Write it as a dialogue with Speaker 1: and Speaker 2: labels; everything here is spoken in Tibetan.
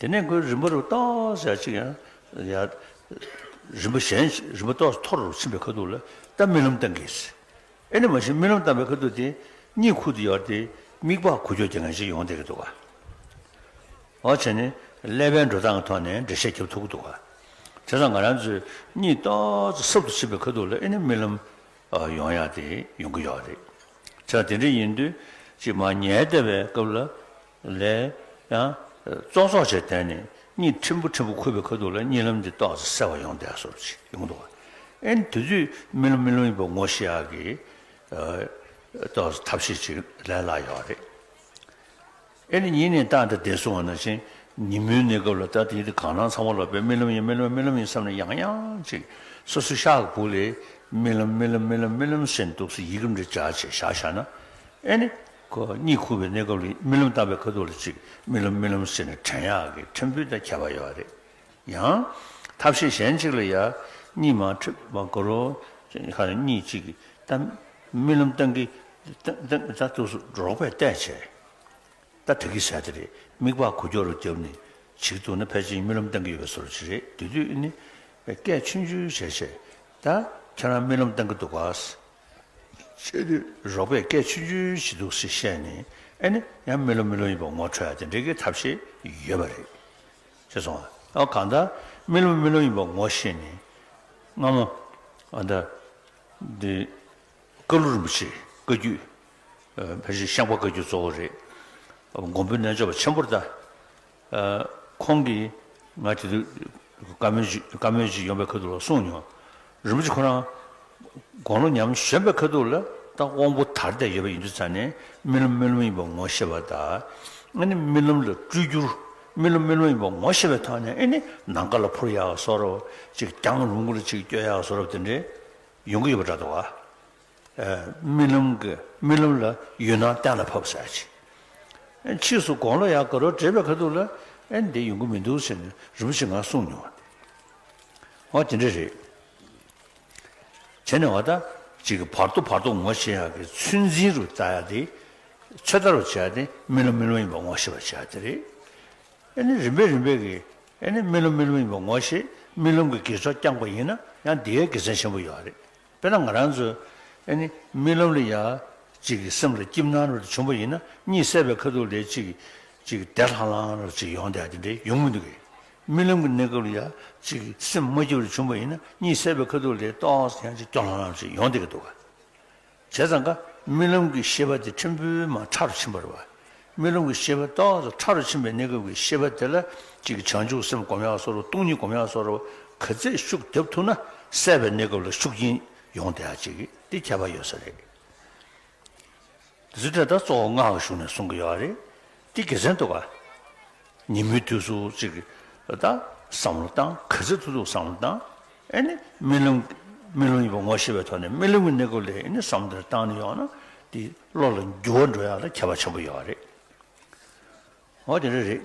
Speaker 1: དེ་ནས་མགོའི་རིམ་པ་རུ་རྟོགས་ཞག་གཅིག་ཡང། རིམ་པ་གཞན་གྱི་རིམ་པ་རྟོགས་སུ་འཐོར་ཕྱིན་པའི་ཁ་ཐུག་ལ་རྟ་རྨི་ལམ་བཏང་གིས། ཨེ་ནི་མ་གཞི་རྨི་ལམ་བཏང་བའི་ཁ་ཐུག་དེ་གཉིད་ཁུག་ཏུ་ཡོད་དེ་མིག་ལྤགས་ཁུ་ཁྱོ་གྱི་ངང་ཅིག་ཡོང་བསྡད་ཀྱི་འདུག་བ། འོ་བྱས་ནས་ཀླད་པའི་འགྲོ་སྟངས་གི་ཐོག་ནས་འགྲེལ་བཤད་བརྒྱབ་ཐུབ་ཀྱི་འདུག་བ། དེ་སང་ང་རང་ཚོས་གཉིད་རྟོགས་ཚུལ་གསབ་ཏུ་ཕྱིན་པའི་ཁ་ཐུག་ལ་ཨེ་ནི་རྨི་ལམ་ཡོང་ཡག་དེ་ཡོང་གི་ཡོད་རེད། དེ་སང་དེ་འདྲ་ཡིན་དུས་གཅིག་མ་ཉལ་བསྡད་པའི་སྐབས་ལ། ལས། ཙོག་ཙོག་བྱས་དོན་ནི་གཉིད་ཕྲན་བུ་ཕྲན་བུ་ཁུག་པའི་ཁ་ཐུག་ལ་གཉིད་ལམ་གྱི་ཏོག་གསར་བ་ཡོང་བསྡད་སོགས་ཅི་ཡོང་འདུག་ཨེ། དེ་དུས་རྨི་ལམ་རྨི་ལམ་ཡིན་པ་ངོ་ཤེས་ཡག་གི། ཏོག་གསར་ཐབས་ཤེས་ཅིག་ལས་སླ་ཡོད་རེད། ཨེ་ནི་ཉིན་ནས་བཏང་སྟེ་བསྡད་སོང་བ་ན་ཕྱིན། ཉིན་མོའི་གནས་སྐབས་ལ་ལྟ་དེ་དུས་གང་སྣང་ཚང་བ་ལག་པས་རྨི་ལམ་ཡིན་རྨི་ལམ་རྨི་ལམ་ཡིན་བསམ་ནས་ཡང་ཡང་ཅིག་སོ་སོའི་ཤག་གི་བུག་ལས། རྨི་ལམ་རྨི་ལམ་རྨི་ལམ་རྨི་ལམ་ཟེར་འདུག་སེ་ཡིག་རིམ་རེ་བསྒྲགས་རྗེས་བཞག་བཞག་ན། ཨེ་ནི། ཁོ་གཉིད་ཁུག་པའི་གནས་སྐབས་ལ་རྨི་ལམ་བཏགས་པའི་ཁ་ཐུག་ལ་གཅིག་རྨི་ལམ་རྨི་ལམ་ཟེར་ནས་བྲན་གཡག་གི་ཁྲིམས་ཕུད་དང་ཁྱད་པར་ཡོད་རེད། ཡང། ཐབས་ཤེས་གཞན་གཅིག་ལ་ཡང་གཉིད་མ་ཁྲིད་པར་དགོད་རོ། ཁ་ནས་གཉིད་ཅིག་གིས་ད་རྨི་ལམ་བཏང་གི། ད་ཐུགས་སུ་རོགས་པས་བལྟས་བྱས། ད་དེ་གི་ཟས་དེ་རེད་མིག་པགས་གུ་ཀྱོག་རུ་བརྒྱབ་ནས་བྱིལ་འདུག་ན་ཕལ་ཆེར་རྨི་ལམ་བཏང་གི་ཡོད་པའི་ཟོལ་གྱིས་རེད་དུས་དུས་ནི། སྐད་ཆུང་ཆུང་བྱས་བྱས། ད་ཁྱེད་རང་རྨི་ལམ་བཏང་གི་འདུག་གཱ། ཆོས་དུས་རོགས་པས་སྐད་ཆུང་ཆུང་བྱེད་འདུག་ཟེར་བཤད་ནས་ཨེ་ནི་ཡང་མི་ལོ་མི་ལོ་ཡིན་པ་ངོ་འཕྲོད་དེ་འདྲའི་གི་ཐབས་ཤེས་ཡོད་པ་རེད། ཅེས་སོང་ཨ་གང་ལྟར་མི་ལོ་མི་ལོ་ཡིན་པ་ངོ་ཤེས་ནས་སྔ་མོ་ཨ་ད་འདི་བཀའ་བློ་རིན་པོ་ཆེ་བཀའ་རྒྱུད་ཕལ་ཆེར་ཤངས་པ་བཀའ་རྒྱུད་གཙོ་བོ་རེད། མགོན་པོའི་རྣལ་འབྱོར་པ་ཆེན་པོར་ལྟ། ཁོང་གིས་ང་དེ་དུས་བཀའ་མོལ་བཀའ་མོལ་ཅིག་ཡོང་པའི་ཁ་ཐུག་ལ་གསུངས་མྱོང། རིན་པོ་ཆེ་ཁོ་རང་དགོང་ལོ་ཉམས་གཞོན་པའི་ཁ་ཐུག་ལ་ད་དབང་པོ་དར་བསྡད་ཡོད་པ་ཡིན་དུས་ཚར་ནས་རྨི་ལམ་རྨི་ལམ་ཡིན་པ་ངོ་ཤེས་པ་དང་ཨ་ནི་རྨི་ལམ་ལ་སྤྲུལ་བསྒྱུར་རྨི་ལམ་རྨི་ལམ་ཡིན་པ་ངོ་ཤེས་པའི་ཐོག་ནས་ཨེ་ནི་ནང་དགའ་ལ་འཕུར་ཡག་གསོ་རོགས་ཅིག་རྒྱང་རུང་གི་ལ་ཅིག་བསྐྱོད་ཡག་གསོ་རོགས་དེ་འདྲས་ཡོང་གི་ཡོད་པ་འདྲ་འདུག་ཨ། རྨི་ལམ་གྱི་རྨི་ལམ་ལ་ཡུལ་སྣང་གཏན་ལ་ཕབ་ཟེར་ཅིག། ཕྱིས་སུ་དགོང་ལོ་ཡང་ག་རོ་བྲེས་པའི་ཁ་ཐུག་ལ་ཨེ་འདི་ཡོང་གི་མི་འདུག་ཟེར་ནས་རིན་པོ་ཆེས་ང་གསུངས་མྱོང་བ་དེ། ཨོ་དེ་འདྲ་རེད། བྱས་ནས་བ་ད་ཅིག་གི་བར་དོ་བར་དོ་ངོ་ཤེས་ཡག་གི་ཚོད་འཛིན་རུ་བལྟ་ཡག་དེ། ཚོད་ལྟ་རུ་བྱས་ཡག་དེ་རྨི་ལམ་རྨི་ལམ་ཡིན་པ་ངོ་ཤེས་པར་བྱས་ཡག་དེ་རེད། ཨེ་ནི་རིམ་པས་རིམ་པས་གི་ཨེ་ནི་རྨི་ལམ་རྨི་ལམ་ཡིན་པ་ངོ་ཤེས་རྨི་ལམ་གྱི་དགེ་ཚོགས་བསྐྱངས་པ་ཡིན་ན་ཡང་འདིའི་དགེ་མཚན་ཆེན་པོ་ཡོད་རེད། དཔེར་ན་ང་རང་ཚོས་ཨེ་ནི་རྨི་ལམ་ལ་ཡ་གཅིག་གི་སེམས་ལ་སྐྱིབས་སྣང་རེ་བྱུང་བ་ཡིན་ན་གཉིད་སད་པའི་ཁ་ཐུག་ལས་གཅིག་གི་གཅིག་གི་དལ་ལྷང་ལྷང་རེ་གཅིག་ཡོང་སྟེ་དེ་འདྲའི་ཡོང་མི་འདུག་གས། རྨི་ལམ་གྱི་གནས་སྐབས་ལ་ཡ་གཅིག་གི་སེམས་དམའ་སྐྱིབས་རེ་བྱུང་བ་ཡིན་ན་གཉིད་སད་པའི་ཁ་ཐུག་ལས་ཏོག་ཙམ་ཡང་གཅིག་སྐྱོ་ལྷང་ལྷང་རེ་གཅིག་ཡོང་སྟེ་གས་འདུག་ག། བྱས་ཙང་ཀ་རྨི་ལམ་གྱི་ཤེས་པ་དེ་ཕྲན་བུའི་མ་ཁྲ་རུ་ཕྱིན་པར་བ་རྨི་ལམ་གྱི་ཤེས་པ་རྟོག་ཚོགས་ཕྲ་རུ་ཕྱིན་པའི་གནས་སྐབས་ཀྱི་ཤེས་པ་དེ་ལ་གཅིག་བྱང་ཆུབ་སེམས་སྒོམ་ཡག་སོ་རུ་སྟོང་ཉིད་སྒོམ་ཡག་སོ་རུ་ག་ཚད་ཤུགས་རྒྱབ་ཐུབ་ན་གསལ་བའི་གནས་སྐབས་ལ་ཤུགས་རྐྱེན་ཡོང་བདེ་ཡག་ཅིག་དེ་ཁྱད་པར་ཡོད་ས་རེད། འདི་འདྲ་ད་གཙོ་བོ་སྔགས་ཀྱི་གཞུང་ནས་གསུང་གི་ཡོད་རེད་དེ་དགེ་མཚན་འདུག་ག་ཉིན་མོའི་དུས་སུ་གཅིག་ད་བསམ་བློ་བཏང་ག་ཚད་ཐུབ་ཐུབ་བསམ་བློ་བཏང། ཨེ་ནི་རྨི་ལམ། རྨི་ལམ་ཡིན་པ་ངོ་ཤེས་པའི་ཐོག་ནས་རྨི་ལམ་གྱི་གནས་སྐབས་ལས་ཨེ་ནི་བསམ་གཏན་བཏང་ནས་ཡོང་ན་དེ་བློ་ལ་འགྱུར་བ་འགྲོ་ཡག་ལ་ཁྱད་པར་ཆེན་པོ་ཡོད་རེད། འོ་དེ་འདྲ་རེད།